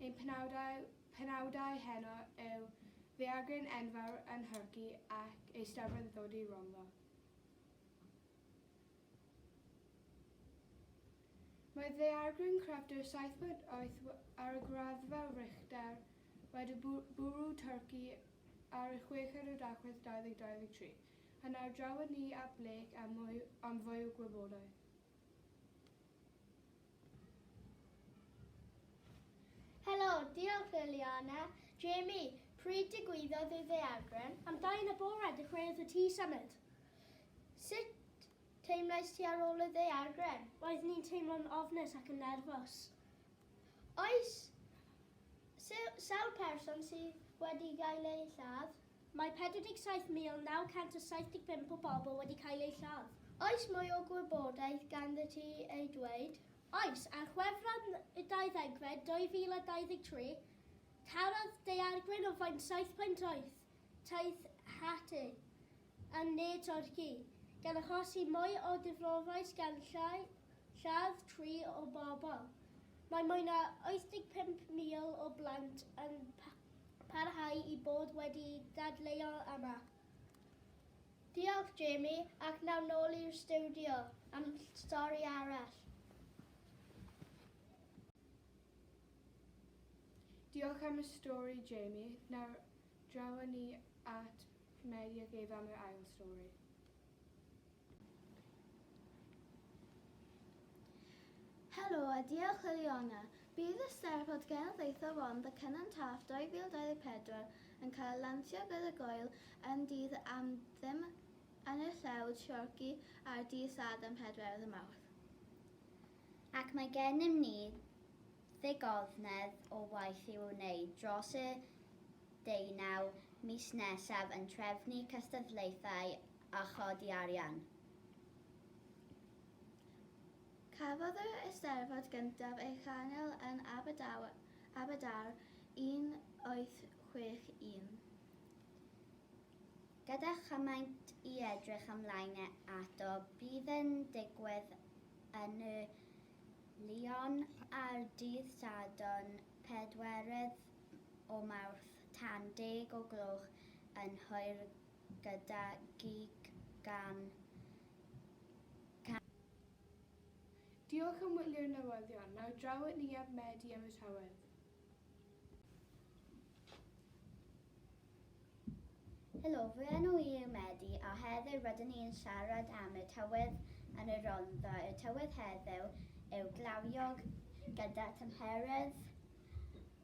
Ein penawdau, penawdau heno yw ddaeargryn enfawr yn Nhorci ac eisteddfod yn dod i Ronddo. Mae ddaeargryn crefftwr saith bod wyth ar y graddfa Richter wedi bwrw Twrci ar y chweched o Dachwedd 2023. Yn ar draw â ni at Blake am mwy, am fwy o gwybodaeth. Helo, diolch Liliana. Jamie, pryd digwyddodd y ddeagren? Am dau yn y bore, dechreuodd y tŷ symud. Sut teimlais ti ar ôl y ddeagren? Roedd ni'n teimlo'n ofnus ac yn nerfus. Oes sawl person sydd wedi gael eu lladd? Mae 47,975 o bobl wedi cael eu lladd. Oes mwy o gwybodaeth ganddyt ti ei dweud? Oes, ar Chwefror y dau ddegfed 2023, tarodd daeargryn o faint 7.8 taith Haiti yn ne Twrci, gan achosi mwy o ddifrofais gan lladd tri o bobl. Mae mwy na 85,000 o blant yn parhau i bod wedi dadleuo yma. Diolch Jamie, ac nawr nôl i'r stiwdio am stori arall. Diolch am y stori Jamie, nawr draw â ni at Mary ac Eve am yr ail stori. Helo a diolch Liliana. Bydd y Steddfod Genedlaethol Rhondda Cynon Taf 2024 yn cael ei lansio gyda gŵyl yn Dydd yr Anthem yn y Llewd Siorci ar ddydd Sadwrn 4 y Mawrth. Ac mae gennym ni ddigonedd o waith i'w wneud dros y deunaw mis nesaf yn trefnu cystadlaethau a chodi arian. Cafodd yr Eisteddfod gyntaf ei channel yn Aberdâr 1861. Gyda chymaint i edrych ymlaen ato, bydd yn digwydd yn y Lion ar ddydd Sadwrn pedwerydd o Mawrth tan deg o gloch yn hwyr gyda gig gan Cam Llwyd. Diolch am wylio'r newyddion. Nawr draw at ni am Medi am y Tywydd. Helo, fy enw i yw Medi a heddiw rydyn ni yn siarad am y tywydd yn y Rhondda. Y tywydd heddiw yw glawiog gyda thymheredd